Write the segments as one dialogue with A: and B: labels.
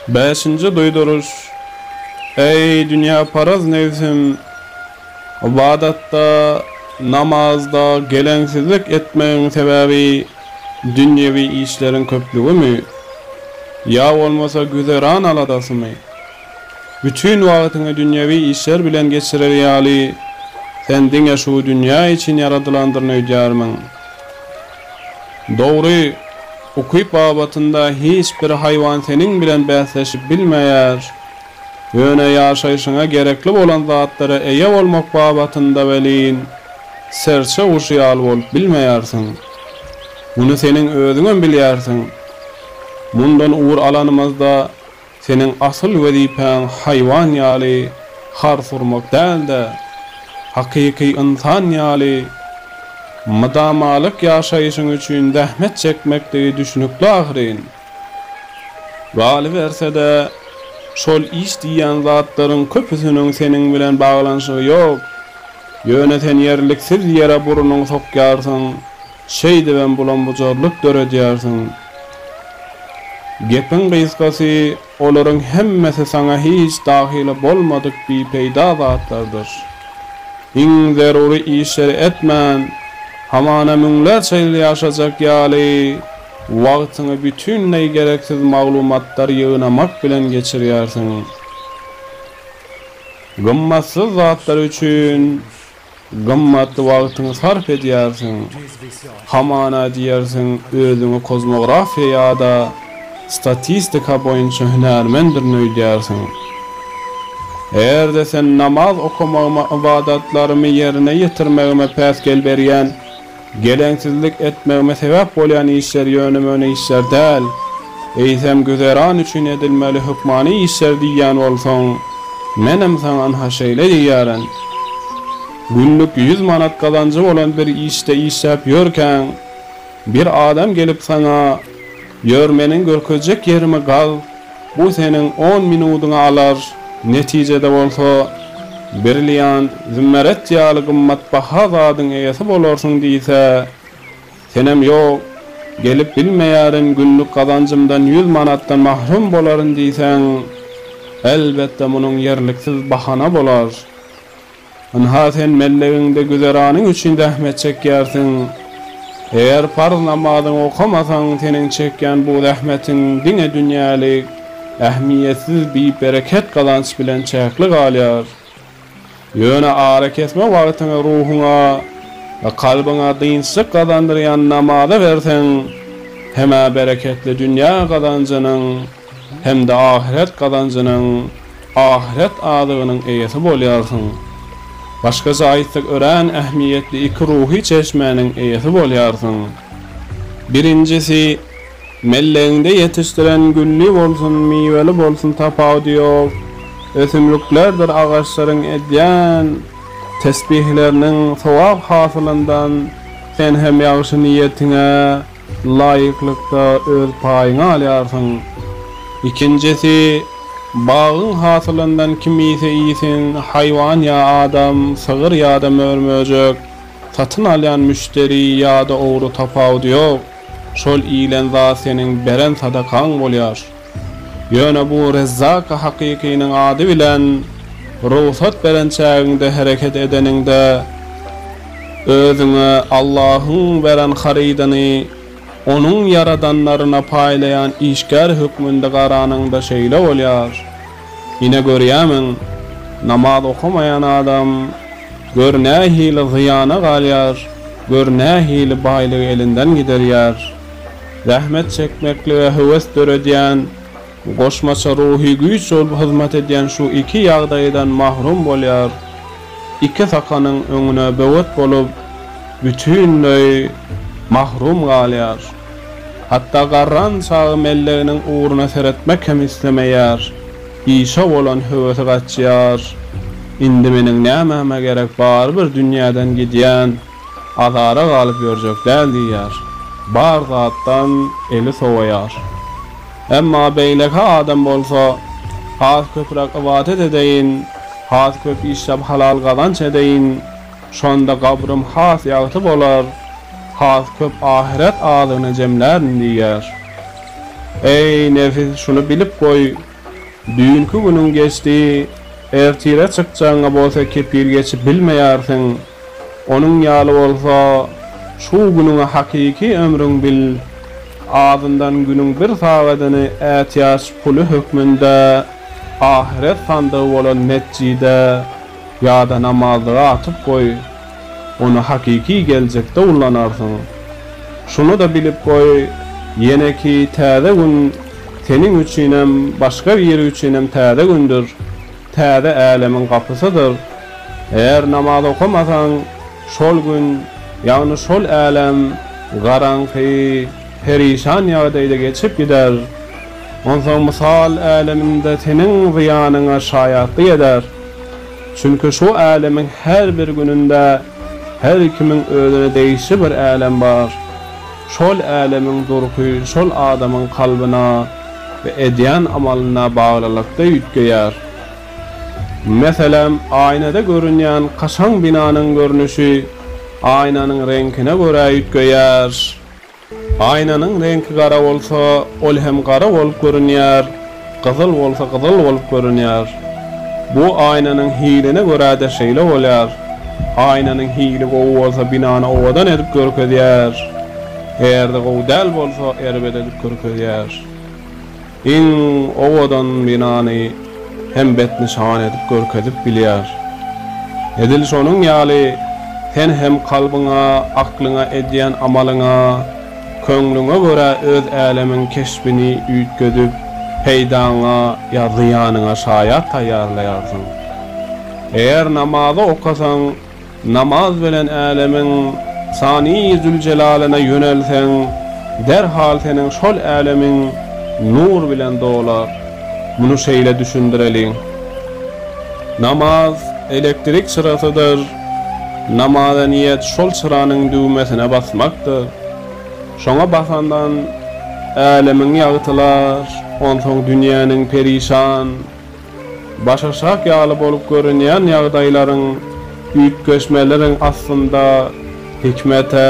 A: Bäşinji duýduryş, Eý, dünýäparaz nebsim! Ybadatda, namazda geleňsizlik etmegiň sebäbi dünýewi işleriň köplügimi? Ýa bolmasa güzeran aladasymy? Bütin wagtyňy dünýewi işler bilen geçirer ýaly, sen diňe şu dünýä üçin ýaradylandyryny öýdýärmiň? Dogry, ukyp babatynda hiç bir haýwan seniň bilen bäsleşip bilmeýär. Ýöne ýaşaýşyňa gerekli bolan zatlara eýe bolmak babatynda welin, serçe guşy ýaly bolup bilmeýärsiň. Muny seniň özüňem bilýärsiň. Mundan ugur alanymyzda, Seniň asyl wezipäň haýwan ýaly hars urmak däl-de, hakyky ynsan ýaly mydamalyk ýaşaýşyň üçin zähmet çekmekdigi düşnükli ahyryn. Galyberse-de, şol iş diýýän zatlaryň köpüsiniň seniň bilen baglanyşygy ýok. Ýöne sen ýerliksiz ýere burnuňy sokýarsyň, Şeýdibem bulam-bujarlyk döredýärsiň. Gepiň gysgasy, olaryň hemmesi saňa hiç dahyly bolmadyk bipeýda zatlardyr. Iň zerury işleri etmän, hamana müňlerçe ýyl ýaşajak ýaly, wagtyňy bütinleý gereksiz maglumatlar ýygnamak bilen geçirýärsiň. Gymmatsyz zatlar üçin Gymmatly wagtyňy sarp edýärsiň. Hamana diýersiň, özüňi kozmografiýa ýa-da statistika boýunça hünärmendirin öýdýärsiň. Eger-de sen namaz okamagyma, ybadatlarymy ýerine ýetirmegime päsgel berýän, Geleňsizlik etmegime sebäp bolýan işler ýöne-möne işler däl, eýsem güzeran üçin edilmeli hökmany işler diýýän bolsaň, menem saňa ynha şeýle diýýärin. Günlük ýüz manat gazanjy bolan bir işde işläp ýörkäň, bir adam gelip saňa, Ýör, meniň görkezjek ýerimi gaz, Bu seniň on minudyňy alar, netijede bolsa brilliant, zümmerjet ýaly gymmatbaha zadyň eýesi bolarsyň diýse, senem ýok, gelip bilmeýärin, günlük gazanjymdan ýüz manatdan mahrum bolaryn diýseň, elbetde munuň ýerliksiz bahana bolar. Ynha sen mellegiňde güzeranyň üçin zähmet çekýärsiň. Eger parz namazyňy okamasaň, seniň çekýän bu zähmetiň diňe dünýälik, ähmiýetsiz bi-bereket gazanç bilen çäkli galýar. Ýöne arakesme wagtyňy ruhuňa we kalbyňa dynçlyk gazandyrýan namaza berseň, hem-ä bereketli dünýä gazanjynyň, Hem-de ahyret gazanjynyň, ahyret azygynyň eýesi bolýarsyň. Başgaça aýtsak, örän ähmiýetli iki ruhy çeşmäniň eýesi bolýarsyň. Birinjisi, mellegiňde ýetişdiren gülli bolsun, miweli bolsun tapawudy ýok, ösümliklerdir agaçlaryň edýän tesbihleriniň sogap hasylyndan sen hem ýagşy niýetiňe, Laýyklykda öz paýyňy alýarsyň. Ikinjisi, bagyň hasylyndan kiminse iýsin, haýwan ýa adam, sygyr ýa-da mör-möjek, satyn alýan müşderi ýa-da ogry tapawudy ýok, şol iýlen zat seniň beren sadakaň bolýar. Ýöne bu Rezzak Hakykynyň ady bilen rugsat beren çägiňde hereket edeniňde, özüňe Allahyň beren harydyny Onuň ýaradanlaryna paýlaýan işgär hökmünde garanyňda şeýle bolýar. Ine görýämiň, namaz okamaýan adam gör nähili zyýana galýar, gör nähili baýlygy elinden giderýär. Zähmet çekmeklige höwes döredýän goşmaça ruhy güýç bolup hyzmat edýän şu iki ýagdaýdan mahrum bolýar, iki sakanyň öňüne böwet bolup, bütinleý mahrum galýar. Hatda garran çagy melleginiň ugruna seretmek hem islemeýär, işe bolan höwesi gaçýar, Indi meniň nämäme gerek, barybir dünýäden gidýän. Azara galyp ýörjek däl diýýär. Bar zatdan eli sowaýar. Emma beýleki adam bolsa, Has köpräk ybadat edeýin, has köp işläp halal gazanç edeýin, şonda gabrym has ýagty bolar, has köp ahyret azygyny jemlärin diýýär. Eý, nebis, şuny bilip goý! Düýnki günüň geçdi, ertire çykjagyňa bolsa kepil geçip bilmeýärsiň. Onuň ýaly bolsa, şu günüňi hakyky ömrüň bil. Azyndan günüň bir sagadyny ätiýaç puly hökmünde ahyret sandygy bolan metjide ýa-da namazlyga atyp goý. ony hakyky geljekde ullanarsyň. Şuny-da bilip goý, ýeneki täze gün seniň üçinem, başga biri üçinem täze gündür, täze älemiň gapysydyr. Eger namaz okamasaň, şol gün, ýagny şol älem garaňky, perişan ýagdaýda geçip gider. Onsoň mysal äleminde seniň zyýanyňa şaýatlyk eder. Çünki şu älemiň her bir gününde her kimiň özüne degişli bir älem bar. Şol älemiň durky şol adamyň kalbyna we edýän amalyna baglylykda üýtgeýär. Meselem, aýnada görünýän kaşaň binanyň görnüşi aýnanyň reňkine görä üýtgeýär. Aýnanyň reňki gara bolsa, ol hem gara bolup görünýär, gyzyl bolsa gyzyl bolup görünýär. Bu aýnanyň hiline görä-de şeýle bolýar. Aýnanyň hili gowy bolsa binany owadan edip görkezýär. Eger-de gowy däl bolsa erbet edip görkezýär. Iň owadan binany hem betnyşan edip görkezip bilýär. Edil şonuň ýaly sen hem kalbyňa, aklyňa, edýän amalyňa, köňlüňe görä öz älemiň keşbini üýtgedip, peýdaňa ýa zyýanyňa şaýat taýýarlaýarsyň. Eger namazy okasaň, Namaz bilen älemiň Sani Züljelaliňe ýönelseň, derhal seniň şol älemiň nur bilen dolar. Muny şeýle düşündireliň. Namaz elektrik çyrasydyr. Namaza niýet şol çyranyň düwmesine basmakdyr. Şoňa basandan älemiň ýagtylar, onsoň dünýäniň perişan. Başaşak ýaly bolup görünýän ýagdaýlaryň, üýtgeşmeleriň aslynda hikmete,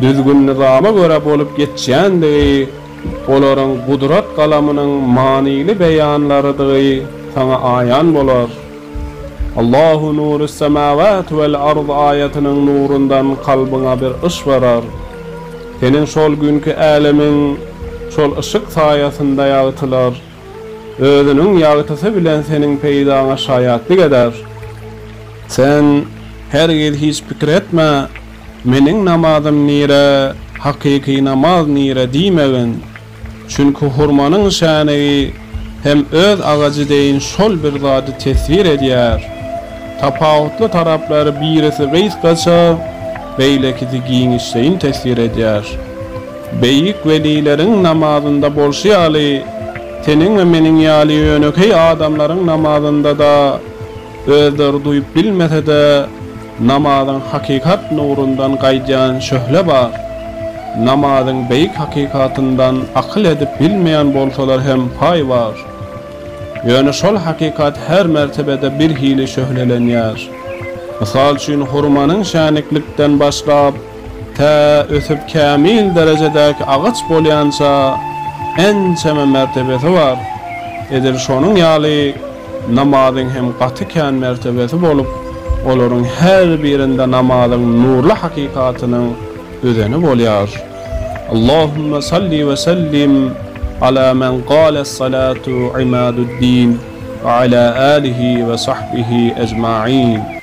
A: düzgün-nyzama görä bolup geçýändigi, olaryň gudrat galamynyň manyly beýanlarydygy saňa aýan bolar. Allahu nurus semawati wal ard aýatynyň nurundan kalbyňa bir yş barar. Seniň şol günki älemiň şol yşyk saýasynda ýagtylar. Özüniň ýagtysy bilen seniň peýdaňa şaýatlyk eder. Sen hergiz hiç pikir etme, Meniň namazym nire, hakyky namaz nire diýmegin. Çünki hurmanyň şänigi hem öz agajy deýin şol bir zady teswir edýär. Tapawutly taraplary birisi gysgaça, beýlekisi giňişleýin teswir edýär. Beýik welileriň namazynda bolşy ýaly, seniň we meniň ýaly ýönekeý adamlaryň namazynda-da, özleri duýup bilmese-de, namazyň hakykat nurundan gaýdýan şöhle bar. Namazyň beýik hakykatyndan akyl edip bilmeýän bolsalar hem paý bar. Ýöne şol hakykat her mertebede birhili şöhlelenýär. Mysal üçin, hurmanyň şäniklikden başlap, Tä ösüp kämil derejedäki agaç bolýança ençeme mertebesi bar. Edil şonuň ýaly namazyň hem gaty kän mertebesi bolup, olaryň her birinde namazyň nurly hakykatynyň özeni bolýar. Allahumma salli we sellim ala men gale es-salatu imadu'd-din we ala alihi we sahbihi ejma'in.